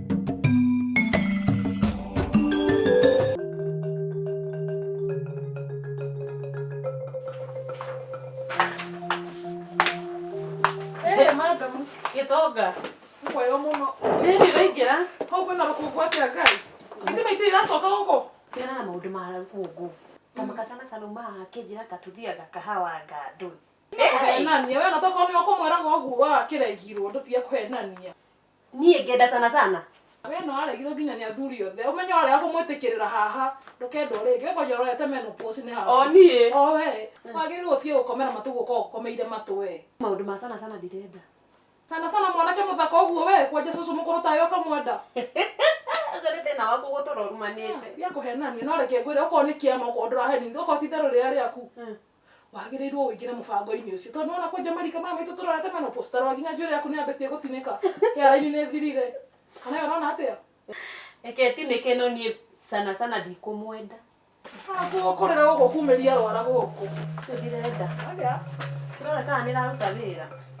Eh, madam, gĩtonga. Mwayo mũno. Rĩrĩ rĩraingĩra. Hau kwĩna rũkũngũ atĩa Ngai? Ithe maitũ iracoka gũkũ. Tena na maũndũ ma rũkũngũ. Ta makacana cana umaga kĩnjĩra ta tũthiaga kahawa ngandũ. Kũhenania. Wena tokorwo nĩwe ũkũmwĩraga ũguo wa kĩraigirwo ndũtige kũhenania. Niĩ ngenda sana sana. We no aregirwo nginya nĩ athuri othe. Ũmenye warega kũmwĩtĩkĩrĩra haha, ndũkendwo rĩngĩ. We kwanja ũrorete menopause nĩ ha? O niĩ? O we? Wagĩrĩirwo ũtige gũkomera matũ ũguo ũkoragwo ũkomeire matũ we. Maũndũ ma sana sana ndirenda. Sana sana mwanake mũthaka ũguo we? Kwanja cũcũ mũkũrũ tawe ũkamwenda? Ũcio nĩ thĩna waku gũtũra ũrumanĩte. Ndiakũhenania no reke ngwĩre okorwo nĩ kĩama okorwo ndũraheni okorwo ti itherũ rĩrĩa rĩaku. wagĩrĩirwo ũingĩre mũbango-inĩ ũcio tondũ ona kwanja marika maya maitũ tũrorete mano postarwa nginya njuĩrĩ yaku nĩ yambĩtie gũtinĩka hĩaraini nĩ thirire kana ũrona atĩa reke tinĩke no niĩ sana sana ndikũmwenda kũrĩra gũkũ kumĩria rwara gũkũ ndirenda kĩrora kana nĩ raruta wĩra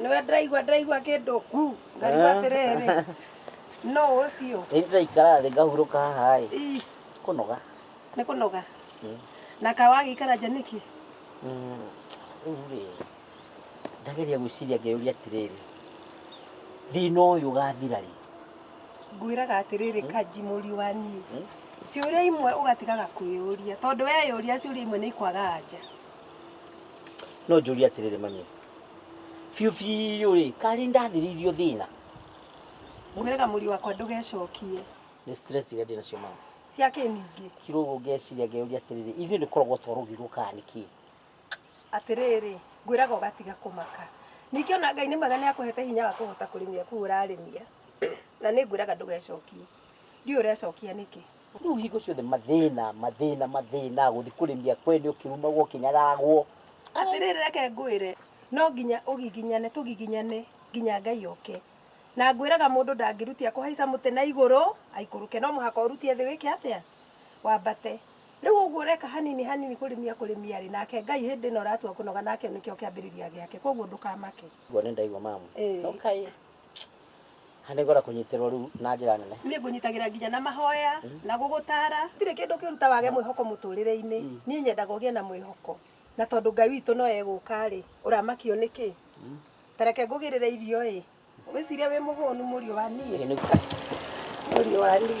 nĩwe ndĩraigua ndĩraigua kĩndũ ku ngarigua atĩrĩrĩ no ũcio Rĩu tũraikara thĩ ngahurũka haha ĩ Ii, kũnoga nĩ kũnoga Mm. na kawagĩikara nja nĩkĩ Mm, rĩu rĩ ndageria gwĩciria ngeyũria atĩrĩrĩ thĩna ũyũ ũgathira rĩ ngwĩraga atĩrĩrĩ kanji mũriũ wa niĩ hmm? ciũria imwe ũgatigaga kwĩyũria tondũ weyũria ciũria imwe nĩ ikwaga anja no njũria atĩrĩrĩ mami biũ biũ rĩ karĩ ndathirĩirio thĩna ngwĩraga mũriũ wakwa ndũgecokie nĩ stress iria ndĩ nacio mama cia kĩ ningĩ kiro ũguo ngeciria ngeyũria atĩrĩrĩ ithuĩ nĩ koragwo twarũgirwo kana nĩ kĩĩ Atĩrĩrĩ, ngwĩraga ũgatiga kũmaka. Ningĩ ona Ngai nĩ mwega nĩ akũhete hinya wa kũhota kũrĩmia kũu ũrarĩmia. Na nĩ ngwĩraga ndũgecokie. Ndiũĩ ũrecokia nĩkĩ. Rĩu hingo ciothe mathĩna, mathĩna, mathĩna, gũthiĩ kũrĩmia kwene ũkĩrumagwo, ũkĩnyararagwo. Atĩrĩrĩ, reke ngwĩre, no nginya ũgiginyane, tũgiginyane nginya Ngai oke. Na ngwĩraga mũndũ ndangĩrutia kũhaica mũtĩ na igũrũ aikũrũke. No mũhaka ũrutie thĩ wĩke atĩa? Wambate. Rĩu ũguo ũreka hanini hanini kũrĩmia kũrĩmia rĩ, nake Ngai hĩndĩ ĩno ũratua kũnoga nake nĩkĩo kĩambĩrĩria gĩake, koguo ndũkamake. Ũguo nĩ ndaigua mamu. Ĩĩ. No kaĩ. Ha nĩ ngwenda kũnyitĩrwo rĩu na njĩra nene. Niĩ ngũnyitagĩra nginya na mahoya, na gũgũtara. Gũtirĩ kĩndũ kĩũru ta wage mwĩhoko mũtũrĩre-inĩ. Niĩ nyendaga ũgĩe na mwĩhoko. Na tondũ Ngai witũ no egũka rĩ, ũramakio nĩkĩ? Ta reke ngũgĩrĩre irio ĩ. Wĩciria wĩ mũhũnu mũriũ wa niĩ. Mũriũ wa niĩ.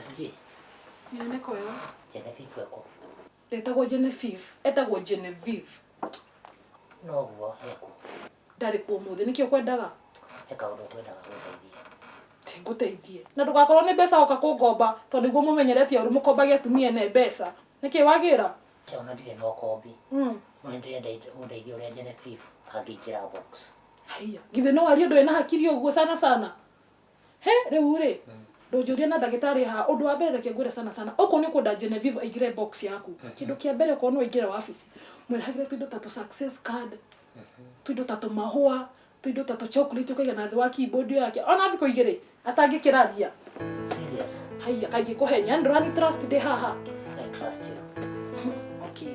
SG. Nyone kwa yo. Genevieve weko. Etagwo Genevieve. Etagwo Genevieve. No guo heku. Ndarĩ kuo mũthĩ nĩkĩo kwendaga. Eka ũndũ kwendaga gũteithia. Ngũteithie. Na ndũgakorwo nĩ mbeca oka kũngomba tondũ nĩguo mũmenyeretie ũrĩ mũkombagia atumia ene mbeca. Nĩkĩ wagĩra? Chao na ndirĩ na ũkombi. Mm. No nĩ ndĩrenda ũndeithie ũrĩa Genevieve angĩingĩra box. Haiya. Githĩ no arie ndũrĩ na hakiri ũguo sana sana. He, rĩu rĩ, Mm. ndũnjũria na ndagĩtarĩ haha. Ũndũ wa mbere reke ngwĩre sana sana. Okorwo nĩ ũkwenda Genevieve aingĩre box yaku. Mhm. Kĩndũ kĩa mbere okorwo no aingĩre wabici. Mwĩrĩhagĩre tũindo ta tũ success card. Tũindo ta tũmahũa. Tũindo ta tũchocolate ũkaiga na thĩ wa keyboard ĩyo yake. Ona thikũ igĩrĩ atangĩkĩraria. Serious. Haiya kaingĩ kũhenya. Yaani ndũrani trust ndĩ haha. I trust you. Okay.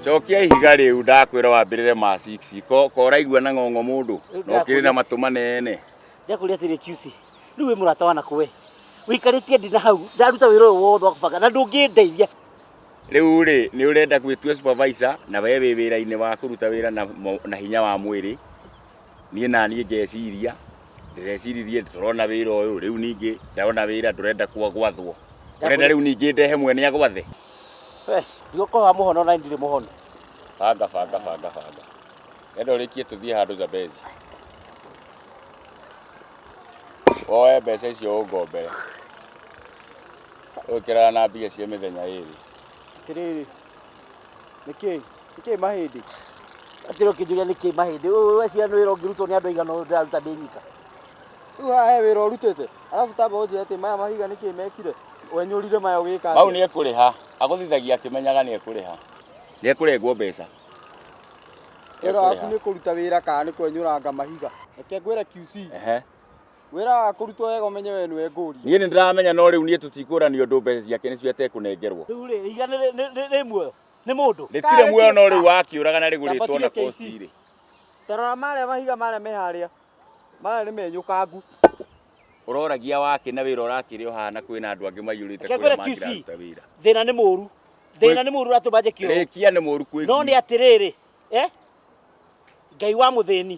cokia ihiga rĩu ndakwĩra wambĩrĩre ma 6 ko ko ũraigua na ng'ong'o mũndũ Rĩu no kĩrĩ na ndakũria- matũ manene ndakũria atĩrĩ QC rĩu wĩ mũrata wa nakũ we wĩikarĩtie ndina hau ndaruta wĩra ũyũ wothe wa kũbanga na ndũngĩndeithia rĩu rĩ nĩ ũrenda gwĩtua supervisor na we wĩ wĩra-inĩ wa kũruta wĩra na, mo- na hinya wa mwĩrĩ niĩ naniĩ ngeciria ndĩreciririe tũrona wĩra ũyũ rĩu ningĩ ndona wĩra ndũrenda kwa- gwathwo ũrenda rĩu ningĩ ndehe mwene agwathe we ndigũkorwo wa mũhono na ndirĩ mũhono banga banga banga banga enda ũrĩkie tũthiĩ handũ zabezi woe mbeca icio ũngombere ũkĩrana na mbia cia mĩthenya ĩrĩ atĩrĩrĩ Nĩkĩĩ? Nĩkĩĩ mahĩndĩ? Atĩ ũkĩnjũria nĩkĩĩ mahĩndĩ? Ũyũ we ciana wĩra ũngĩrutwo nĩ andũ aigana ũyũ ndĩraruta ndĩ nyika? Rĩu haha he wĩra ũrutĩte. Arabu tamba ũnjĩre atĩ maya mahiga nĩkĩĩ mekire? Wenyũrire maya ũgĩka Mau atĩa? nĩ ekũrĩha. Agũthithagia akĩmenyaga nĩ ekũrĩha. Nĩ ekũrengwo mbeca. Wĩra waku nĩ kũruta wĩra kana nĩ kwenyũranga mahiga? Reke ngwĩre QC. Ehe. Wĩra wa kũrutwo wega ũmenye we nĩwe ngũria. Niĩ nĩ ndĩramenya no rĩu niĩ tũtikũranio ũndũ mbeca ciake nĩcio atekũnengerwo. Rĩu rĩ, ihiga nĩ rĩ- nĩ- nĩ- rĩ muoyo? Nĩ mũndũ? Rĩtirĩ muoyo no rĩu wakĩũraga na rĩgũrĩtwo na kosti rĩ. Tarora marĩa mahiga marĩa me harĩa. Marĩa nĩ menyũkangu. Ũroragia wakĩ na wĩra ũrakĩrĩ ũhana kwĩna andũ angĩ maiyũrĩte Reke kwĩra ngwĩre QC. mangĩraruta wĩra. Thĩna nĩ mũru. Thĩna nĩ mũru ũratũma njĩke ũũ. Rĩkia nĩ mũru kwĩ No nĩ atĩrĩrĩ, eh? Ngai wa mũthĩni.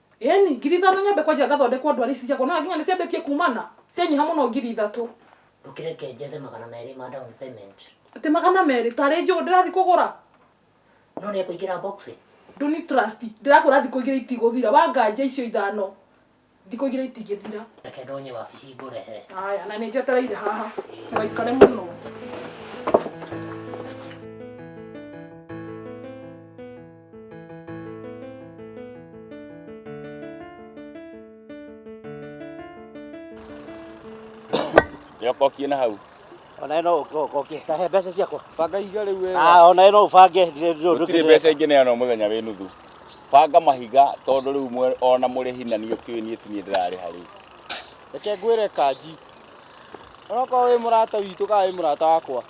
Ĩni, ngiri ithano nyambe kwenja ngathondekwo ndwari ici ciakwa, ũrona nginya nĩ ciambĩtie kumana, cianyiha mũno ngiri ithatũ. Ũkĩ reke njethe magana merĩ ma down payment. Atĩ magana merĩ? Tarĩ njũgũ ndĩrathiĩ kũgũra? No nĩ ekũingĩra box? Ndũni trust, ndĩrakwĩra thikũ igĩrĩ itigũthira, wanganja icio ithano thikũ igĩrĩ itingĩthira. Reke ndonye wabici ngũrehere. Aya, na nĩ njetereire haha, ndũgaikare mũno. nĩokokie na hau ona ĩno ũkokie ta he mbeca ciakwa banga ihiga rĩu wega ah ona ĩno ũbange gũtirĩ mbeca ingĩ neana mũthenya wĩ nuthu banga mahiga tondũ rĩu ona mũrĩ hina niĩ ũkĩũĩ niĩ ti niĩ ndĩrarĩha rĩu reke ngwĩre kanji onokorwo wĩ mũrata witũ kana wĩ mũrata wakwa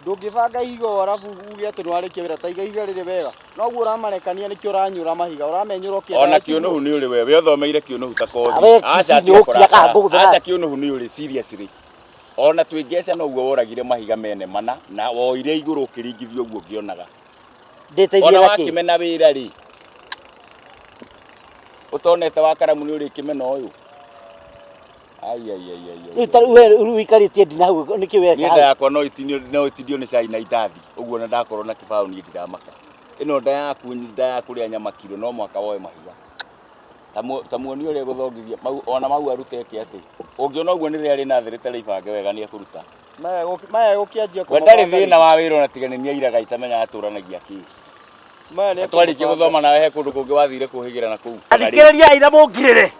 ndũngĩbanga ihiga ũũ arabu uge atĩ nĩwarĩkia wĩra ta iga ihiga rĩrĩ wega noguo ũramarekania nĩkĩo ũranyũra mahiga ũramenyũra ũkĩendaga ona ikinya. kĩũnũhu nĩ ũrĩ wewe ũthomeire kĩũnũhu ta kothi Awe, aca kici nĩ ũkira tiakora kana ngũgũthera. aca kĩũnũhu nĩ ũrĩ seriously ona twĩ ngeca noguo woragire mahiga mene mana na woire igũrũ ũkĩringithia ũguo ngĩonaga ndĩteithie ona na kĩ wakĩmena wĩra rĩ ũtonete wa karamu nĩ ũrĩkĩmena ũyũ Rĩu ta rĩu we rĩu wĩikarĩtie ndina hau nĩkĩ weka nienda hau? yakwa no itinio no itinio nĩ cai na indathi ũguo na ndakorwo na kĩbaũ niĩ ndiramaka ĩno nda yaku nda ya kũrĩa nyama kiro no mwaka woe mahiga Ta mu- ta muoni ũrĩa gũthongithia mau ona mau arutete atĩ ũngĩona ũguo nĩ rĩrĩa rĩna thĩ rĩtarĩ ibange wega nĩ ekũruta maya gũk- maya gũkĩanjia we ndarĩ thĩna wa wĩra ona tiga nĩ niĩ airaga itamenya atũranagia kĩ maya nĩ twarĩkia gũthoma nawe he kũndũ kũngĩ wathire kũhĩgĩra na kũu Kana rĩ? Athikĩrĩria aira mũngirĩre.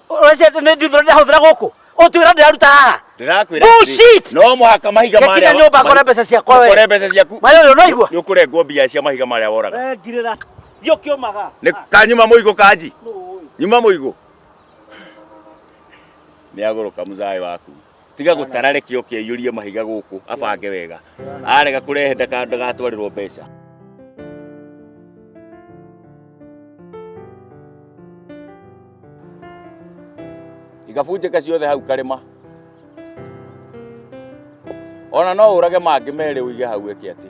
Ũrece nĩ ndithũra ndĩrahũthĩra gũkũ. Ũtwĩra ndĩraruta haha. Ndĩrakwĩra Bullshit! atĩrĩ, no mũhaka mahiga Gĩkinya marĩa nyũmba mahi- akore mbeca ciakwa we. ũkore mbeca ciaku Maĩ ũyũ ũraigua? nĩ ũkũrengwo mbia cia mahiga marĩa woraga We ngirĩra. Thiĩ ũkĩũmaga. nĩ kanyuma mũigũ kanji nyuma mũigũ nĩ agũrũka mũthayĩ waku tiga gũtara reke oke aiyũrie mahiga gũkũ abange wega arega kũrehe ndaka- ndagatwarĩrwo mbeca igabunjĩka ciothe hau karĩma ona no ũrage mangĩ merĩ ũige hau eke atĩ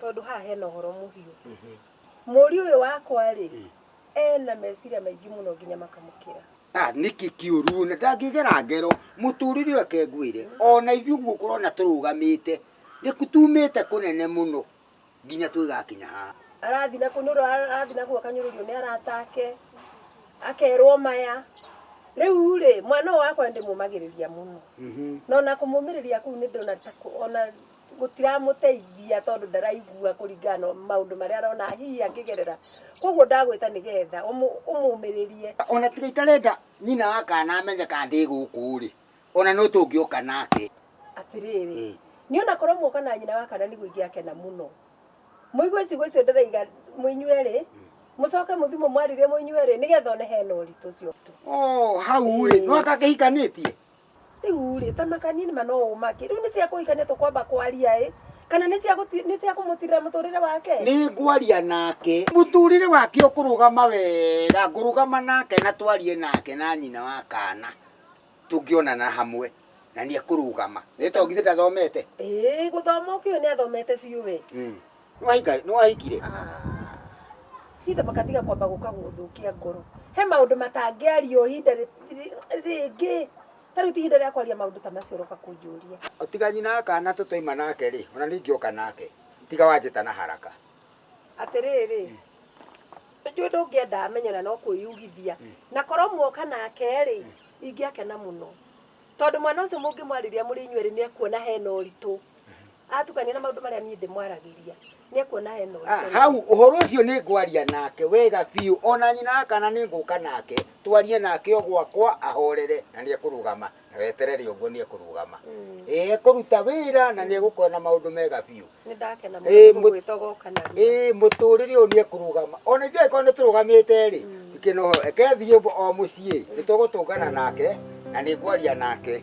tondũ haha hena ũhoro mũhiũ mũri ũyũ wakwa rĩ ena meciria maingĩ mũno nginya makamũkĩra Ah, niki kiuru na ndangigera ngero muturire wake ngwire ona ithu guo kurona turugamite nikutumite kunene muno nginya twigakinya ha arathi na kunuru arathi na guo kanyururio ni aratake akerwo maya riu ri mwana ũyũ wakwa ndimumagiriria muno na ona kumumiriria kuu ni ndona ta ku- ona gũtiramũteithia tondũ ndaraigua kũringana na maũndũ marĩa arona hihi angĩgerera koguo ndagwĩta nĩgetha ũmũ- ũmũmĩrĩrie ona tiga itarenda nyina wa kana amenye kana ndĩ gũkũ rĩ ona no tũngĩũka nake atĩrĩrĩ Ĩĩ. nĩ ona korwo muoka na nyina wa kana nĩguo ingĩakena mũno mũigue ciugo icio ndĩraiga mũinyuerĩ mũcoke mũthi mũmwarĩrie mũinyuerĩ nĩgetha one hena ũritũ ũcio tu Oh, hau rĩ Ĩĩ. no akakĩhikanĩtie Rĩu rĩ, ta makanie nĩma no ũmake. Rĩu nĩ cia kũhikania tũkwamba kwaria ĩ, kana nĩ cia gũti- nĩ cia kũmũtirĩra mũtũrĩre wake? nĩ ngwaria nake mũtũrĩre wake ũkũrũgama wega ngũrũgama nake na twarie nake na nyina wa kana tũngĩonana hamwe na nĩ ekũrũgama nĩ tondũ githĩ ndathomete Ĩĩ, gũthoma ũkĩũĩ nĩ athomete biũ we. Mm. Nĩwahika- nĩwahikire hithe makatiga kwamba gũka gũthũkia ngoro he maũndũ matangĩario ihinda rĩ- rĩ- rĩngĩ ta rĩu ti ihinda rĩa kwaria maũndũ ta macio ũroka kũnjũria tiga nyina akana tũtoima nake rĩ ona ningĩ oka nake tiga wanjĩta na haraka atĩrĩrĩ njũĩ ndũngĩenda amenye na no kwĩyugithia na korwo muoka nake rĩ ingĩakena mũno tondũ mwana ũcio mũngĩmwarĩria mũrĩ inyuerĩ nĩ ekuona hena ũritũ Atukania na maũndũ marĩa niĩ ndĩmwaragĩria, nĩekuona hena ũritũ. Ah, hau ũhoro ũcio nĩ ngwaria nake wega biũ o na nyina wa kana nĩ ngũka nake twarie nake o gwakwa ahorere na nĩ ekũrũgama na weterere ũguo nĩ ekũrũgama Mm. ĩ ekũruta wĩra na nĩ egũkona maũndũ mega biũ Nĩ ndakena mũno Ĩĩ, mũ- gũgwĩta ũgoka na ruo. ĩ mũtũrĩre ũyũ nĩ ekũrũgama o na ithuĩ angĩkorwo nĩ tũrũgamĩte rĩ tikĩna ũhoro eke thiĩ o mũciĩ nĩ tũgũtũngana nake na nĩ ngwaria nake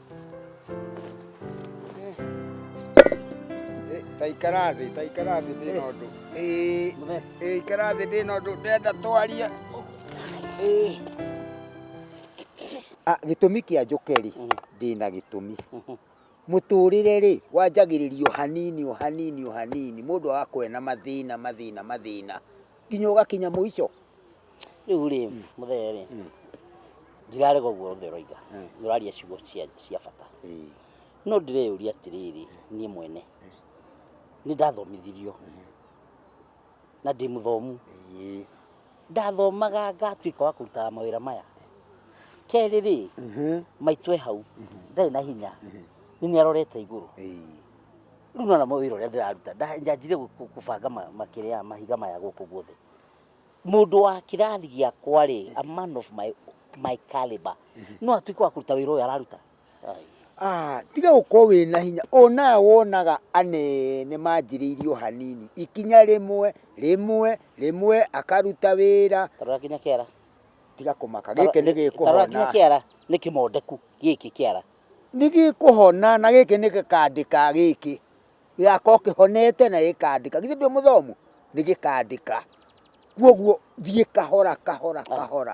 taikara thĩ taikara thĩ ndĩ na ũndũ ĩĩ ikara thĩ ndĩ na ũndũ ndenda twarie ah, gĩtũmi kĩa njũke rĩ mm. ndĩ na gĩtũmi mm-hmm. mũtũrĩre rĩ wanjagĩrĩrio hanini o hanini o hanini mũndũ agakorwo na mathĩna mathĩna mathĩna nginya ũgakinya mũico Rĩu rĩ mũthee rĩ ndirarega ũguo othe ũroiga nĩ ũraria ciugo cia cia bata no ndĩreyũria atĩrĩrĩ niĩ mwene nĩ ndathomithirio na ndĩ mũthomu ndathomaga ngatuĩka wa kũrutaga mawĩra maya kerĩ rĩ maitũ e hau ndarĩ na hinya nĩ nĩ arorete igũrũ rĩu nĩ wona wĩra ũrĩa ndĩraruta nda- ndanjire gũ- gũ- gũbanga ma- makĩrĩa mahiga maya gũkũ guothe mũndũ wa kĩrathi gĩakwa rĩ a man of my, my caliber no atuĩke wa kũruta wĩra ũyũ araruta Ai. Ah, tiga gũkorwo wĩ na hinya onaga wonaga anene manjĩrĩirio hanini ikinya rĩmwe rĩmwe rĩmwe akaruta wĩra tarora kinya kĩara tiga kũmaka gĩkĩ nĩ tarora kinya gĩkũhona kĩara nĩ kĩmondeku gĩkĩ kĩara nĩ gĩkũhona na gĩkĩ nĩ gĩkandĩka gĩkĩ gĩgakorwo kĩhonete na gĩkandĩka, githĩ ndũrĩ mũthomu? Nĩ gĩkandĩka. Kwoguo thiĩ kahora kahora kahora.